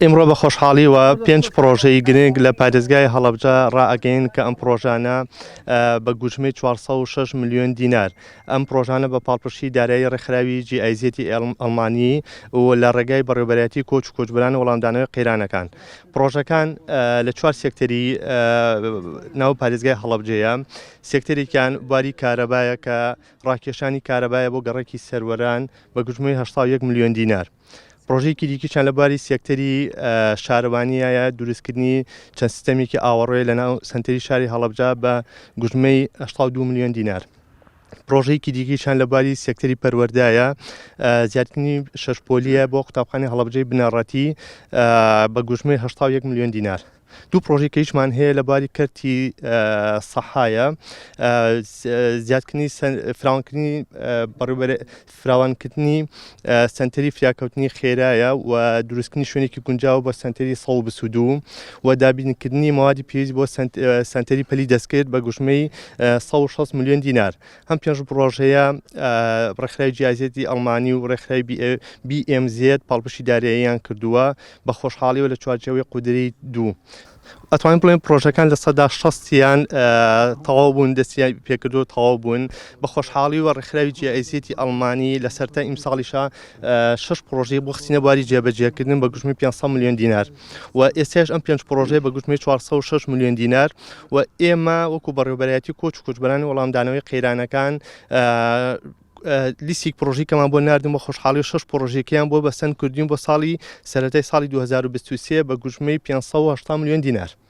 ئیمڕۆ بە خۆشحاڵیوە پێنج پڕۆژەی گرنگ لە پارێزگای هەڵەبجە ڕائەگەین کە ئەم پڕۆژانە بە گوژمەی 406 ملیۆن دینار ئەم پڕۆژانە بە پاڵپشتی دارایی ڕێکخراوی جیئایزیەتی ئەڵمانی و لە ڕێگای بەڕێوبەرایەتی کۆچ و کۆچبران وەڵامدانەوەی قەیرانەکان پڕۆژەکان لە چوار سێکتەری ناو پارێزگای هەڵەبجەیە سێکتەرێکیان بواری کارەبایە کە ڕاکێشانی کارەبایە بۆ گەڕێکی سەروەران بە گوژمەی 1 ملیۆن دینار پڕۆژەیەکی دیکیشان لە بواری سێکتەری شارەوانیایە دروستکردنی چەند سیستەمێکی ئاوەڕۆیە لە ناو سنتەری شاری هەڵبجا بە گوژمەی 82 میلیۆن دینار. پرۆژەیەکی دیکەیشان لە باری سێکتەری پەروەردایە زیاتنی شەشپۆلیە بۆ قوتابخانی هەڵبجەی بنەڕەتی بە گوژمەی 1970 میلیۆن دینار. دوو پڕۆژەی کەیشمان هەیە لە باری کەرتی سەحایە زیادکردنی فراوانکردنی بەڕێوبەرە فراوانکردنی سنتەری فریاکەوتنی خێرایە و دروستکردنی شوێنێکی گونجاو بە سنتەری سەڵ بسوودو و دابینکردنی موادی پێویست بۆ سنتەری پەلی دەستکرد بە گوژمەی 160 ملیۆن دینار ئەم پێنج پڕۆژەیە ڕێکخراوی جیازیەتی ئەڵمانی و ڕێکخراوی BMZ پاڵپشی داراییان کردووە بە خۆشحاڵیەوە لە چوارچەوەی قودری دوو. ئەتوان بڵێن پرۆژەکان لە سەدا شەستیان تەواو بوون دەستیان پێکردو تەواو بوون بە خۆشحاڵی و ڕێکخراوی جیایزیەتی ئەڵمانی لە سەرتا ئیمساڵیشە شش پرۆژەی بۆ خستینە بواری جێبەجێکردن بە گوژمی 500 میلیۆن دینار. و ئێستاش ئەم پێنج پرۆژەیە بە گوتمی 406 ملیۆن دینار و ئێمە وەکو بەڕێوبەرایەتی کۆچ و کوچبەرانی وەڵامدانەوەی قەیرانەکان لیسیک پرۆژیکەمان بۆ نردم بە خۆشحاڵی شش پرۆژێکیان بۆ بەسەند کردین بۆ ساڵی سەرەتای ساڵی 2023 بە گوژمەی 500 میلیۆن دینار.